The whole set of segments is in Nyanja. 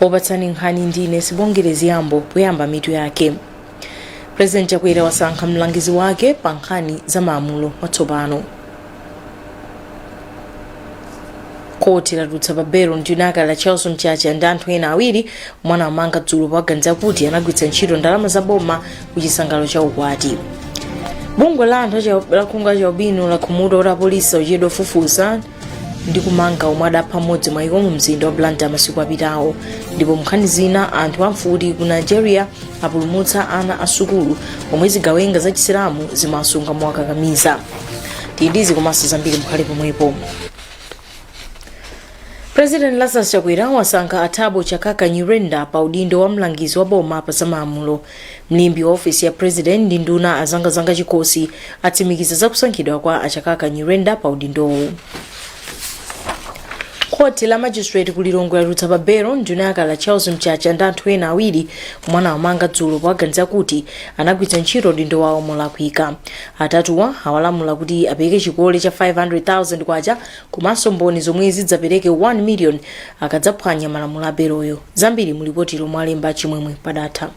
Opatsani nkhani ndine Sibongile Ziyambo poyamba mitu yake. President Chakwera wasankha mlangizi wake pa nkhani za malamulo watsopano. Khoti latulutsa pa belo nduna yakale Charles Mchacha ndi anthu ena awiri omwe anawamanga dzulo powaganiza kuti anagwiritsa ntchito ndalama za boma ku chisangalalo cha ukwati. Bungwe la anthu acha- la khungu achaubino lakhumudwa kuti apolisi akuchedwa kufufuza ndi kumanga omwe adapha mmodzi mwa iwo mu mzinda wa blantyre masiku apitawo ndipo munkhani zina anthu amfuti ku nigeria apulumutsa ana a sukulu omwe zigawenga za chisilamu zimawasunga mowakakamiza tili ndi izi komanso zambiri mukhale pomwepo president lazarus chakwera wasankha a thabo chakaka nyirenda pa udindo wa mlangizi wa boma pa zamalamulo mlembi wa ofesi ya president ndi nduna a zangazanga chikhosi atsimikiza za kusankhidwa kwa a chakaka nyirenda pa udindowu khoti la magistrate ku lilongwe latulutsa pa belo nduna yakale charles mchacha ndi anthu ena awiri omwe anawamanga dzulo powaganiza kuti anagwiritsa ntchito udindo wawo molakwika atatuwa awalamula kuti apereke chikole cha 500000 kwacha komanso mboni zomwe zidzapereke 1 million akadzaphwanya malamulo a beloyo. Zambiri mu lipoti lomwe walemba Chimwemwe Padatha.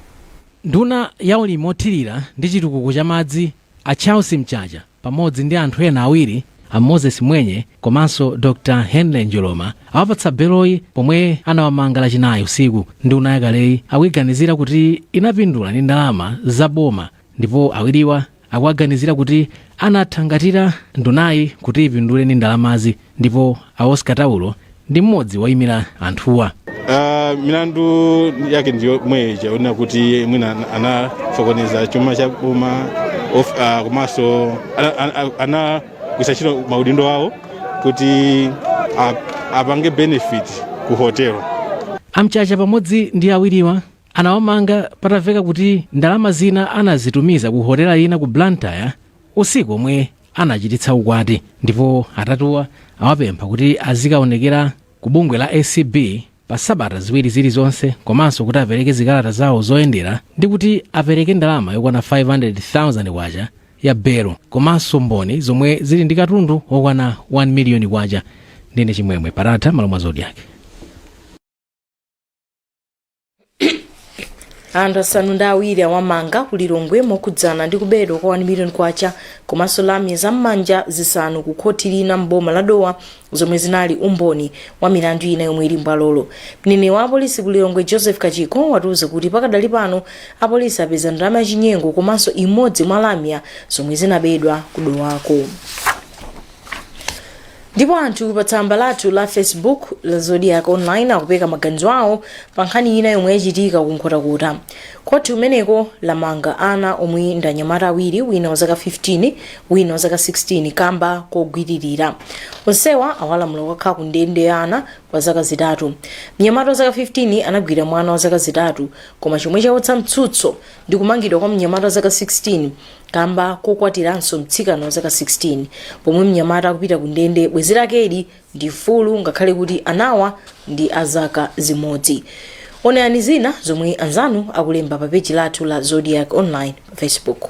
Nduna ya ulimi othirira ndi chitukuko cha madzi a Charles Mchacha pamodzi ndi anthu ena awiri a Moses Mwenye komanso Dr Henry Njoloma awapatsa beloyi pomwe anawamanga lachinayi usiku. Nduna yakaleyi akuiganizira kuti inapindula ndi ndalama za boma ndipo awiriwa akuwaganizira kuti anathangatira ndunayi kuti ipindule ndi ndalamazi ndipo a oscar taulo ndi mmodzi woyimira anthuwa Ah, milandu yake ndi yomwe ija yonena kuti mwina anasokoneza chuma cha boma of- ah, komanso ana- ana- anagwiritsa ntchito maudindo awo kuti a- apange benefit ku hotelo a mchacha pamodzi ndi awiriwa Anawamanga pataveka kuti ndalama zina anazitumiza ku hotela ina ku Blantyre usiku omwe anachititsa ukwati ndipo atatuwa awapempha kuti azikaonekera ku bungwe la acb pa sabata ziwiri zilizonse komanso kuti apereke zikalata zawo zoyendera ndi kuti apereke ndalama yokwana 500,000 kwacha ya belo komanso mboni zomwe zili ndi katundu wokwana 1 miliyoni kwacha ndine chimwemwe padatha malo mwa zodiak anthu asanu ndi awiri awamanga ku lilongwe mokhudzana ndi kubedwa kwa 1 million kwacha komanso lamya za m'manja zisanu ku khoti lina m'boma la dowa zomwe zinali umboni wa milandu ina yomwe ili mbwalolo mneneri wa apolisi ku lilongwe joseph kachikho watiuza kuti pakadali pano apolisi apeza ndalama yachinyengo komanso imodzi mwa lamya zomwe zinabedwa ku dowako ndipo anthu pa tsamba lathu la facebook la zodiak online akupereka maganizo awo pa nkhani ina yomwe yachitika ku nkhotakota khoti kumeneko lamanga ana omwe ndi anyamata awiri wina wa zaka 15 wina wa zaka 16 kamba kogwiririra onsewa awalamula kukakhala ku ndende ya ana kwa zaka zitatu mnyamata wa zaka 15 anagwira mwana wa zaka zitatu koma chomwe chawutsa mtsutso ndi kumangidwa kwa mnyamata wa zaka 16 kamba kokwatiranso mtsikana wa zaka 16 pomwe mnyamata akupita ku ndende bwezi lakeli ndi mfulu ngakhale kuti anawa ndi azaka zimodzi onani zina zomwe anzanu akulemba pa peji lathu la zodiak online pa facebook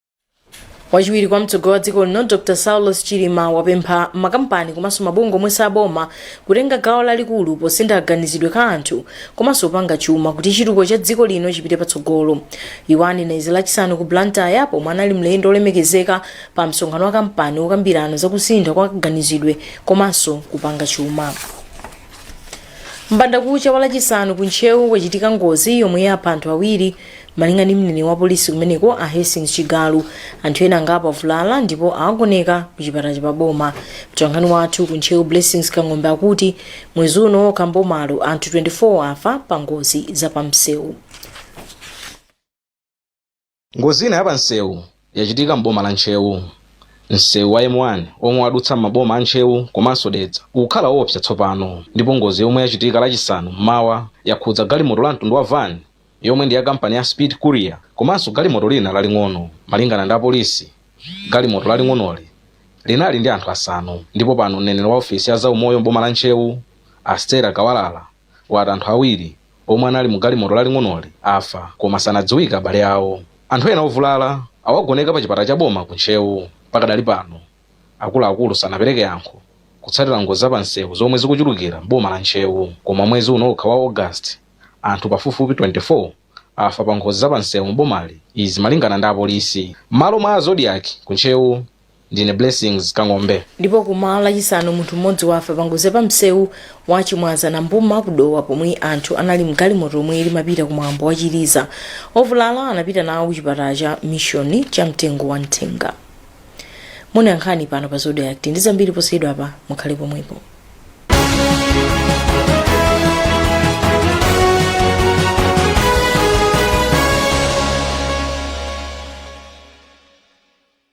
wachiwiri kwa mtsogoleri wa dziko lino dr saulos chilima wapempha makampani komanso mabungwe omwe si aboma kutenga gawo lalikulu posintha kaganizidwe ka anthu komanso kupanga chuma kuti chitukuko cha dziko lino chipite patsogolo iwo anena izi lachisanu ku blantyre pomwe anali mlendo olemekezeka pa msonkhano wa kampani wokambirana zakusintha kwa kaganizidwe komanso kupanga chuma mbandakucha wa lachisanu ku ntcheu kwachitika ngozi yomwe yapha anthu awiri malinga ndi mneneri wa polisi kumeneko a hastings chigalu anthu ena angapo avulala ndipo awagoneka ku chipatala cha paboma mtolankhani wathu ku ntcheu blessings kang'ombe akuti mwezi uno okha m'bomalo anthu 24 afa pa ngozi za pamsewu Ngozi ina ya pa msewu yachitika m'boma la Ntcheu. Msewu wa M1 omwe wadutsa m'maboma a Ntcheu komanso Dedza ukukhala oopsa tsopano ndipo ngozi yomwe yachitika lachisanu m'mawa yakhudza galimoto la mtundu wa van yomwe ndi ya kampani ya Speed Courier komanso galimoto lina laling'ono. Malingana ndi apolisi, galimoto laling'onoli linali ndi anthu asanu ndipo pano mneneri wa ofesi ya zaumoyo m'boma la Ntcheu, a Stella Kawalala, wati anthu awiri omwe anali mu galimoto laling'onoli afa koma sanadziwika abale awo. Anthu ena ovulala awagoneka pa chipatala cha boma ku Ntcheu. Pakadali pano akuluakulu sanapereke yankho kutsatira ngozi za pa msewu zomwe zikuchulukira m'boma la Ntcheu. Koma mwezi uno okha wa August, anthu pafupifupi 24 afa pa ngozi za pa msewu m'bomali, izi malingana ndi apolisi. M'malo mwa a Zodiak ku Ntcheu, ndine blessings kang'ombe ndipo kum'mawa lachisanu munthu mmodzi wafa pangozi ya pamsewu wa chimwaza nambuma ku dowa pomwe anthu anali mgalimoto omwe limapita ku mwambo wa chiliza ovulala anapita nawo ku chipatala cha mishoni cha mtengo wa nthenga muonera nkhani pano pa zodiak tili ndi zambiri posachedwa apa mukhale pomwepo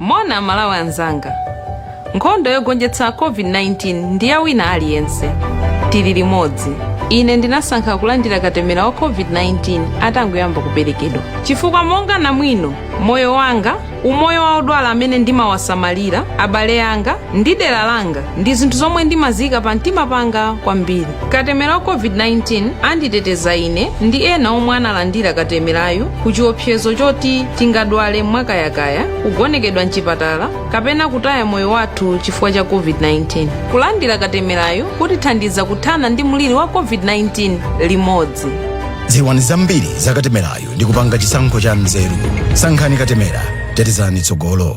moni amalawi anzanga nkhondo yogonjetsa covid-19 ndi ya wina aliyense tili limodzi ine ndinasankha kulandira katemera wa covid-19 atangoyamba kuperekedwa chifukwa monga namwino moyo wanga umoyo wa odwala amene ndimawasamalira abale anga ndi dera langa ndi zinthu zomwe ndimaziyika pa mtima panga kwambiri katemera wa covid-19 anditeteza ine ndi ena omwe analandira katemerayu ku chiopsezo choti tingadwale mwakayakaya kugonekedwa mchipatala kapena kutaya moyo wathu chifukwa cha covid-19 kulandira katemerayu kutithandiza kuthana ndi mliri wa covid-19 limodzi dziwani zambiri za katemerayu ndi kupanga chisankho cha nzeru sankhani katemera tetezani tsogolo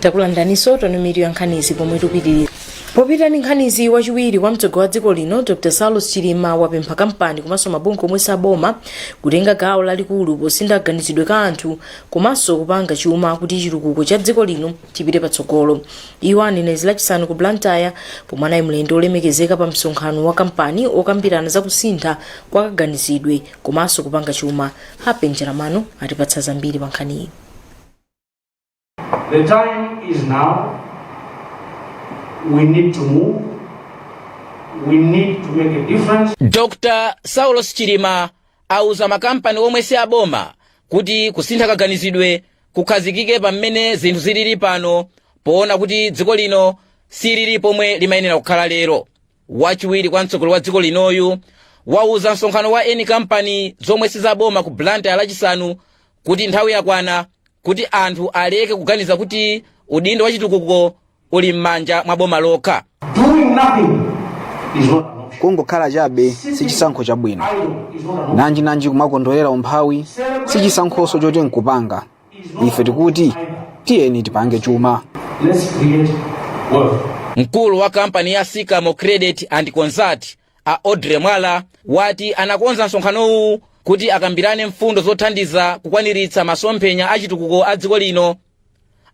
takulandiraninso omvera ya nkhanizi pomwe tupitiriza kupita ndi nkhanizi wachiwiri kwa mtsogoleri wa dziko lino dr saulos chilima wapempha kampani komanso mabungwe omwe si aboma kutenga gawo lalikulu posintha kaganizidwe ka anthu komanso kupanga chuma kuti chitukuko cha dziko lino chipite patsogolo iwo anena izi lachisanu ku blantyre pomwe anali mlendo olemekezeka pa msonkhano wa kampani okambirana za kusintha kwa kaganizidwe komanso kupanga chuma happy njalam'mano atipatsa zambiri pa nkhaniyi The time is now. We need to move. We need to make a difference. dr saulos chilima auza makampani omwe si aboma kuti kusintha kaganizidwe kukhazikike pa mmene zinthu zilili pano poona kuti dziko lino silili pomwe limayenera kukhala lero wachiwiri kwa mtsogoleri wa dziko linoyu wauza msonkhano wa eni kampani zomwe sizaboma ku blantyre lachisanu kuti nthawi yakwana kuti anthu aleke kuganiza kuti udindo wa chitukuko uli m'manja mwa boma lokha Doing nothing is not an option. kungokhala chabe si chisankho chabwino Idle is not an option. nanjinanji kumakondwerera umphawi si chisankhonso choti nkupanga ife tikuti tiyeni tipange chuma Let's create wealth. mkulu wa kampani ya sycamore credit and consult a audrey mwala wati anakonza msonkhanowu kuti akambirane mfundo zothandiza kukwaniritsa masomphenya achitukuko a dziko lino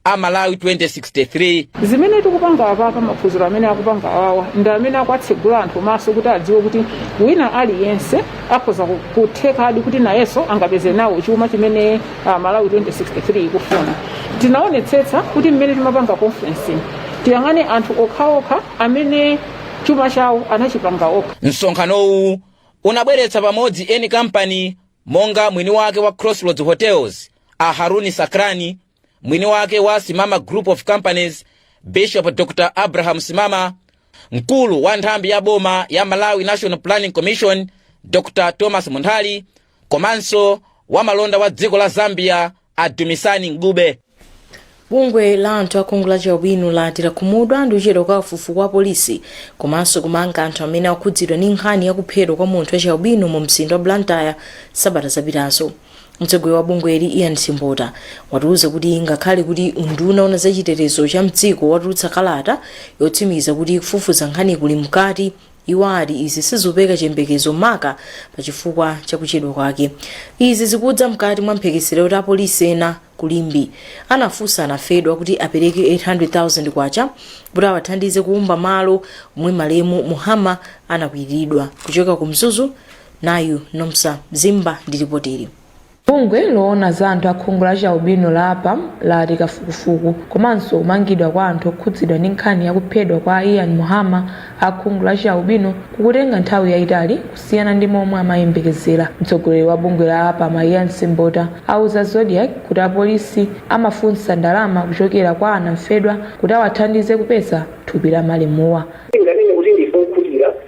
a malawi 2063 zimene tikupanga apapa maphunziro amene akupanga awawa ndi amene akuwatsegula anthu maso kuti adziwe kuti wina aliyense akhoza ku- kuthekadi kuti nayenso angapeze nawo chuma chimene malawi 2063 ikufuna tinaonetsetsa kuti mmene timapanga conference tiyang'ane anthu okhaokha amene chuma chawo anachipanga okha msonkhanowu unabweretsa pamodzi eni kampani monga mwini wake wa crossroads hotels a haroon sacranie mwini wake wa simama group of companies bishop dr abraham simama mkulu wa nthambi ya boma ya malawi national planning commission dr thomas munthali komanso wamalonda wa dziko la zambia a dumisani ncube bungwe la anthu akhungu la chialubino lati lakhumudwa ndi kuchedwa kwa kafukufuku wa polisi komanso kumanga anthu amene akhudzidwa ndi nkhani ya kuphedwa kwa munthu wa chialubino mu mzinda wa blantyre sabata zapitazo mtsogoleri wa bungweli ian simbota watiuza kuti ngakhale kuti unduna wa zachitetezo cha mdziko watulutsa kalata yotsimikiza kuti kufufuza nkhani kuli mkati Iwo ati izi sizikupereka chiyembekezo maka pa chifukwa cha kuchedwa kwake. Izi zikudza mkati mwa mphekesera kuti apolisi ena ku Limbe anafunsa anafedwa kuti apereke K800,000 kuti awathandize kukumba malo omwe malemu Muhama anakwiriridwa. Kuchoka ku Mzuzu, nayu Nomsa Zimba ndi lipotili. Bungwe loona za anthu a khungu la chialubino la APAM lati kafukufuku komanso kumangidwa kwa anthu okhudzidwa ndi nkhani ya kuphedwa kwa a Ian Muhama a khungu la chialubino kukutenga nthawi yaitali kusiyana ndi momwe amayembekezera. Mtsogoleri wa bungwe la APAM a Ian Simbota auza Zodiak kuti apolisi amafunsa ndalama kuchokera kwa anamfedwa kuti awathandize kupeza thupi la malemuwa. Tinganene kuti ndife okhutira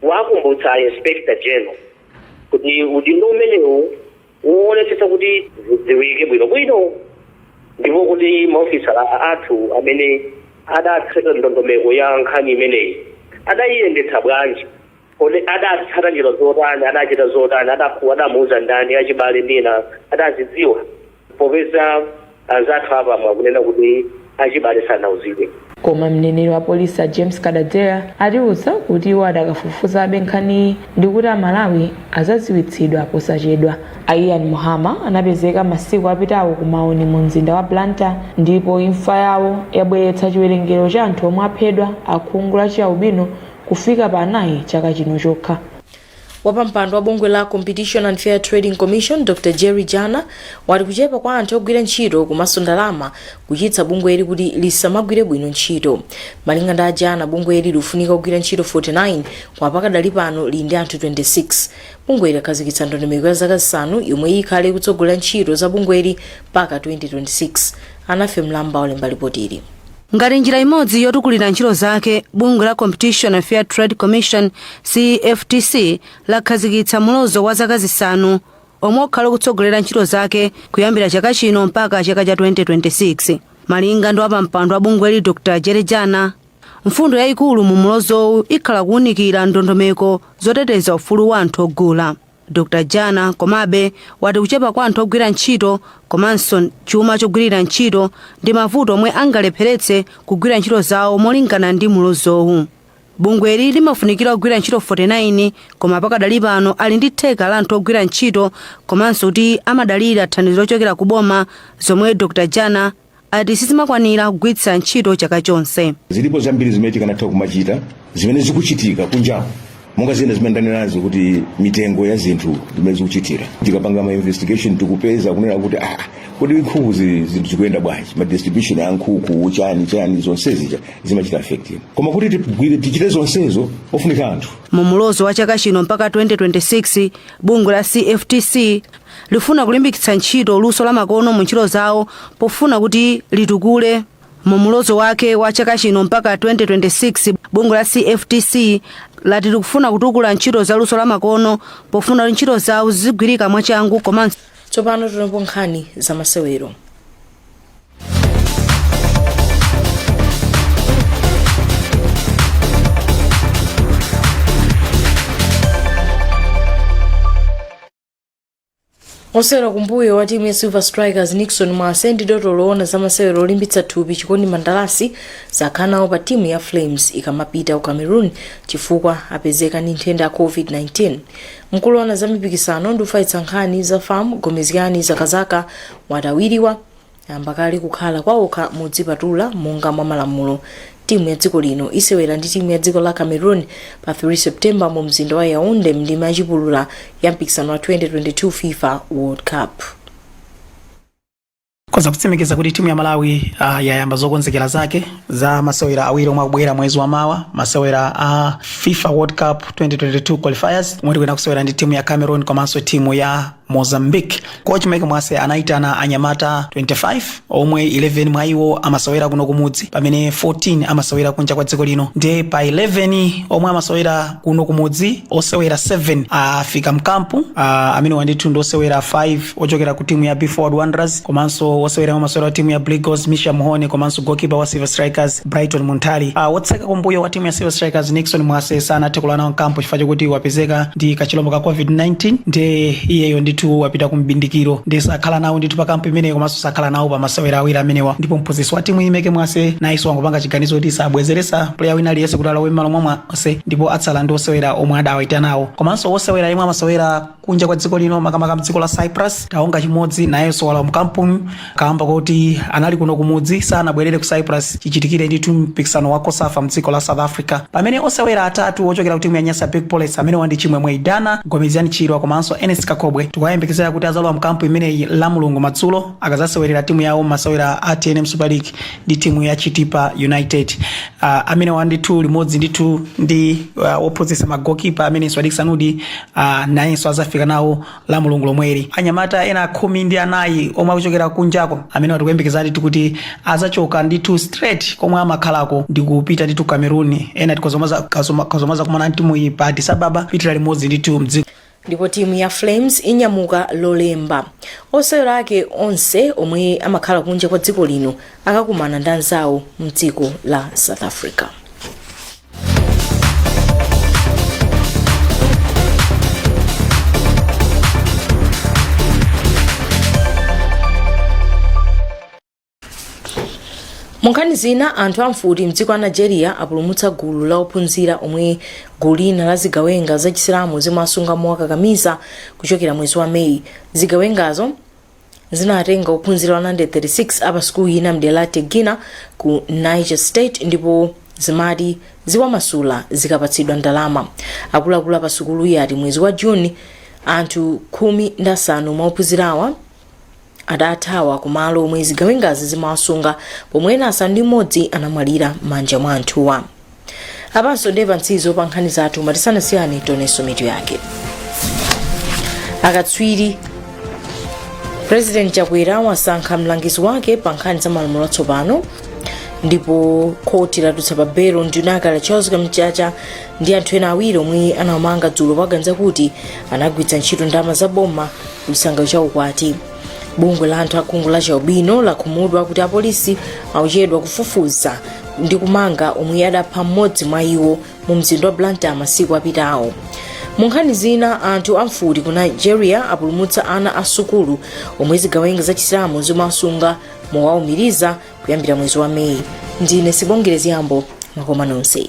kuwakumbutsa a Inspector General kuti udindo umenewu woonetsetsa kuti zidziwike bwinobwino ndipo kuti maofisala athu amene adatseka ndondomeko ya nkhani imeneyi adayiyendetsa bwanji kodi adatsata njira zotani adachita zotani adamuuza ndani achibale ndi ena adazidziwa Popeza anzathu a APAM akunena kuti achibale sanauzidwe. Koma mneneri wa polisi a James Kadadzera atiuza kuti iwo adakafufuzabe nkhaniyi ndikuti a Malawi adzadziwitsidwa posachedwa. A Ian Muhama anapezeka masiku apitawo ku Maone mu mzinda wa Blantyre ndipo imfa yawo yabweretsa chiwerengero cha anthu omwe aphedwa akhungu la chialubino kufika pa anayi chaka chino chokha. Wapampando wa bungwe la Competition and Fair Trading Commission Dr Jerry Jana wati kuchepa kwa anthu ogwira ntchito komanso ndalama kuchititsa bungweli kuti lisamagwire bwino ntchito. Malinga ndi a Jana, bungweli likufunika ogwira ntchito 49 koma pakadali pano lili ndi anthu 26. Bungweli lakhazikitsa ndondomeko ya zaka zisanu yomwe ikhale ikutsogolera ntchito za bungweli mpaka 2026. Alinafe Mlamba walemba lipotili. Ngati njira imodzi yotukulira ntchito zake, bungwe la Competition and Fair Trade Commission, CFTC, lakhazikitsa mulozo wa zaka zisanu omwe ukhale ukutsogolera ntchito zake kuyambira chaka chino mpaka chaka cha 2026. Malinga ndi wapampando wa bungweli Dr. Jerry Jana, mfundo yayikulu mu mulozowu ikhala kuwunikira ndondomeko zoteteza ufulu wa anthu ogula. Dr. Jana, komabe, wati kuchepa kwa anthu ogwira ntchito komanso chuma chogwirira ntchito ndi mavuto omwe angalepheretse kugwira ntchito zawo molingana ndi mlozowu. Bungweli limafunikira ogwira ntchito 49 koma pakadali pano ali ndi theka la anthu ogwira ntchito komanso kuti amadalira thandizo lochokera ku boma zomwe Dr. Jana ati sizimakwanira kugwiritsa ntchito chaka chonse. Zilipo zambiri zimene tikanatha kumachita zimene zikuchitika kunjaku monga zina zimene ndanenazo kuti mitengo ya zinthu zimene zikuchitira tikapanga ma investigation tikupeza kunena kuti ah, kodi nkhuku zi- zinthu zikuyenda bwanji ma distribution a nkhuku chani chani zonsezi cha- zimachita affect koma kuti tigwire tichite zonsezo ofunika anthu mu mulozo wa chaka chino mpaka 2026 bungwe la cftc Likufuna kulimbikitsa ntchito luso la makono mu ntchito zawo pofuna kuti litukule. Mu mulozo wake wa chaka chino mpaka 2026, bungwe la CFTC lati likufuna kutukula ntchito za luso la makono pofuna kuti ntchito zawo zizigwirika mwachangu komanso tsopano timveko nkhani za masewero osewera kumbuyo wa timu ya silver strikers nixon mwase ndi dotolo woona za masewero olimbitsa thupi chikondi mandalasi sakhala nawo pa timu ya flames ikamapita ku cameroon chifukwa apezeka ndi nthenda ya covid-19 mkulu woona za mipikisano ndi kufalitsa nkhani za fam gomezgani zakazaka wati awiriwa Ayamba kale kukhala kwaokha modzipatula monga mwa malamulo. Timu ya dziko lino isewera ndi timu ya dziko la Cameroon pa 3 September mu mzinda wa Yaounde mndime yachipulula ya mpikisano wa 2022 FIFA World Cup. ndikhoza kutsimikiza kuti timu ya malawi uh, yayamba zokonzekera zake za masewera awiri omwe akubwera mwezi wa mawa masewera a uh, fifa world cup 2022 qualifiers omwe tikuyenera kusewera ndi timu ya cameroon komanso timu ya mozambique kochi meke mwase anayitana anyamata 25 omwe 11 mwa iwo amasewera kuno kumudzi pamene 14 amasewera kunja kwa dziko lino ndiye pa 11 omwe amasewera kuno kumudzi osewera 7 afika mkampu ah, amene awa ndithu ndi osewera 5 ochokera ku timu ya be forward wanderers komanso osewera mmasewera wa timu ya blue eagles micium mhone komanso gokipa wa silver strikers brighton munthali uh, wotseka kumbuyo wa timu ya silver strikers nixon mwase sanathe kulowa nawo mkampu chifukwa chakuti wapezeka ndi kachilombo ka covid-19 ndi iyeyo ndithu wapita ku mbindikiro ndiye sakhala nawo ndithu pa kampu imeneyi komanso sakhala nawo pa masewera awiri amenewa ndipo mphunzitsi wa timuyi meke mwase nayenso wangopanga chiganizo kuti sabwezeresa player wina aliyense kuti alowe mmalo mwa mwase ndipo atsala ndi osewera omwe adawaitanawo komanso osewera yemwe amasewera kunja kwa dziko lino makamaka mdziko la cyprus taonga chimodzi nayenso walowa mkampuyi kaamba kuti anali kuno kumudzi sanabwerere ku cyprus chichitikire ndithu mpikisano wa cosafa mdziko la south africa pamene osewera atatu ochokera ku timu ya nyasa big bullets amenewa ndi chimwemwe idana gomezani chirwa komanso ernest kakhobwe tikuyembekezera kuti azalowa mkampu imeneyi lamulungu madzulo akazasewerera timu yawo masewera a tnm super league ndi timu ya chitipa united uh, amenewa ndithu limodzi ndithu ndi uh, wophunzitsa magoalkeeper amene ndi swadick sanudi a nayenso azafika nawo lamulungu lomweli anyamata ena khumi ndi anayi omwe akuchokera kunjako amenewa tikuyembekeza ndithu kuti azachoka ndithu straight komwe amakhalako ndi kupita ndithu cameroon ena tikazomwe azakumana ndi timuyi pa addis ababa pitira limodzi ndithu mdziko ndipo timu ya flames inyamuka lolemba osewera ake onse omwe amakhala kunja kwa dziko lino akakumana ndi anzawo mdziko la south africa munkhani zina anthu amfuti mdziko la nigeria apulumutsa gulu la ophunzira omwe gulu lina la zigawenga zachisilamu zimawasunga mowakakamiza kuchokera mwezi wa meyi zigawengazo zinatenga ophunzira 136 a pasukulu ina mdera la tegina ku niger state ndipo zimati ziwamasula zikapatsidwa ndalama akuluakulu a pasukuluyi ati mwezi wa juni anthu khumi ndi asanu mwa ophunzirawa adathawa kumalo omwe zigawengazi zimawasunga pomwe ena asanu ndi mmodzi anamwalira m'manja mwa anthuwa apanso ndiye pamtsirizo pa nkhani zathu koma tisanasiyane tionenso mitu yake akatswiri president chakwera wasankha mlangizi wake pa nkhani za malamulo atsopano ndipo khoti latulutsa pa belo nduna yakale charles kamchacha ndi anthu ena awiri omwe anawamanga dzulo powaganizira kuti anagwiritsa ntchito ndalama za boma kuchisangalalo cha ukwati bungwe la anthu a khungu la chialubino lakhumudwa kuti apolisi akuchedwa kufufuza ndi kumanga omwe adapha mmodzi mwa iwo mu mzinda wa blantyre masiku apitawo mu nkhani zina anthu amfuti ku nigeria apulumutsa ana a sukulu omwe zigawenga za chisilamu zimawasunga mowaumiriza kuyambira mwezi wa meyi ndine sibongile zgambo makoma nonse